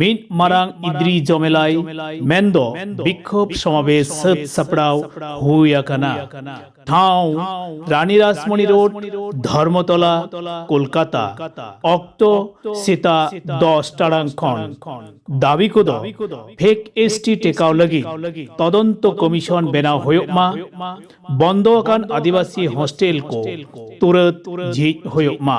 ᱢᱤᱫ ᱢᱟᱨᱟᱝ ᱤᱫᱨᱤ ᱡᱚᱢᱮᱞᱟᱭ ᱢᱮᱱᱫᱚ ᱵᱤᱠᱷᱚᱵ ᱥᱚᱢᱟᱵᱮᱥ ᱥᱟᱹᱛ ᱥᱟᱯᱲᱟᱣ ᱦᱩᱭ ᱟᱠᱟᱱᱟ ᱴᱷᱟᱶ ᱨᱟᱱᱤ ᱨᱟᱥᱢᱚᱱᱤ ᱨᱳᱰ ᱫᱷᱚᱨᱢᱚᱛᱚᱞᱟ ᱠᱳᱞᱠᱟᱛᱟ ᱚᱠᱛᱚ ᱥᱮᱛᱟᱜ ᱫᱚᱥ ᱴᱟᱲᱟᱝ ᱠᱷᱚᱱ ᱫᱟᱹᱵᱤ ᱠᱚᱫᱚ ᱯᱷᱮᱠ ᱮᱥ ᱴᱤ ᱴᱮᱠᱟᱣ ᱞᱟᱹᱜᱤᱫ ᱛᱚᱫᱚᱱᱛᱚ ᱠᱚᱢᱤᱥᱚᱱ ᱵᱮᱱᱟᱣ ᱦᱩᱭᱩᱜ ᱢᱟ ᱵᱚᱱᱫᱚ ᱟᱠᱟᱱ ᱟᱹᱫᱤᱵᱟᱹᱥᱤ ᱦᱳᱥᱴᱮᱞ ᱠᱚ ᱛᱩᱨᱟᱹᱛ ᱡᱷᱤᱡ ᱦᱩᱭᱩᱜ ᱢᱟ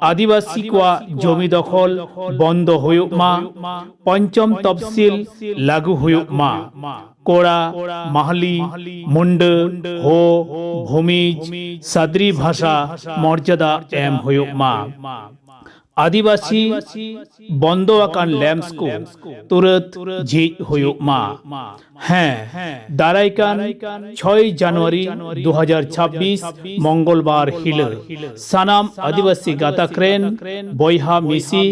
ᱟᱹᱫᱤᱵᱟᱹᱥᱤ ᱠᱚᱣᱟᱜ ᱡᱚᱢᱤ ᱫᱚᱠᱷᱚᱞ ᱵᱚᱱᱫᱚ ᱦᱩᱭᱩᱜ ᱢᱟ, ᱯᱚᱧᱪᱚᱢ ᱛᱚᱯᱷᱥᱤᱞ ᱞᱟᱹᱜᱩ ᱦᱩᱭᱩᱜ ᱢᱟ, ᱠᱚᱲᱟ, ᱢᱟᱦᱞᱤ, ᱢᱩᱱᱰᱟᱹ, ᱦᱳ, ᱵᱷᱩᱢᱤᱡᱽ, ᱥᱟᱫᱽᱨᱤ ᱵᱷᱟᱥᱟ ᱢᱚᱨᱡᱟᱫᱟ ᱮᱢ ᱦᱩᱭᱩᱜ ᱢᱟ᱾ ᱟᱹᱫᱤᱵᱟᱹᱥᱤ ᱵᱚᱱᱫᱚ ᱟᱠᱟᱱ ᱞᱮᱢᱥ ᱠᱚ ᱛᱩᱨᱟᱹᱛ ᱡᱷᱤᱡ ᱦᱩᱭᱩᱜ ᱢᱟ᱾ ᱦᱮᱸ ᱫᱟᱨᱟᱭ ᱠᱟᱱ ᱪᱷᱚᱭ ᱡᱟᱱᱩᱣᱟᱨᱤ ᱫᱩ ᱦᱟᱡᱟᱨ ᱪᱷᱟᱵᱵᱤᱥ ᱢᱚᱝᱜᱚᱞᱵᱟᱨ ᱦᱤᱞᱳᱜ ᱥᱟᱱᱟᱢ ᱟᱹᱫᱤᱵᱟᱹᱥᱤ ᱜᱟᱛᱟᱠ ᱨᱮᱱ ᱵᱚᱭᱦᱟ ᱢᱤᱥᱤ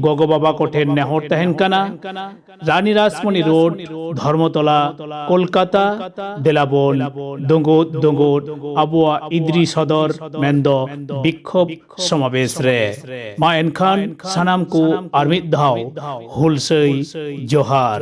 ᱜᱚᱜᱚ ᱵᱟᱵᱟ ᱠᱚᱴᱷᱮᱱ ᱱᱮᱦᱚᱨ ᱛᱟᱦᱮᱱ ᱠᱟᱱᱟ ᱨᱟᱱᱤ ᱨᱟᱥᱢᱚᱱᱤ ᱨᱳᱰ ᱫᱷᱚᱨᱢᱚᱛᱚᱞᱟ ᱠᱳᱞᱠᱟᱛᱟ ᱫᱮᱞᱟᱵᱚᱱ ᱫᱩᱸᱜᱩᱫ ᱫᱩᱸᱜᱩᱫ ᱟᱵᱚᱣᱟᱜ ᱤᱫᱨᱤ ᱥᱚᱫᱚᱨ ᱢᱮᱱᱫᱚ ᱵᱤᱠᱠᱷᱳᱵ ᱥᱚᱢᱟᱵᱮᱥ ᱨᱮ ᱢᱟ ᱮᱱᱠᱷᱟᱱ ᱥᱟᱱᱟᱢ ᱠᱚ ᱟᱨ ᱢᱤᱫ ᱫᱷᱟᱣ ᱦᱩᱞᱥᱟᱹᱭ ᱡᱚᱦᱟᱨ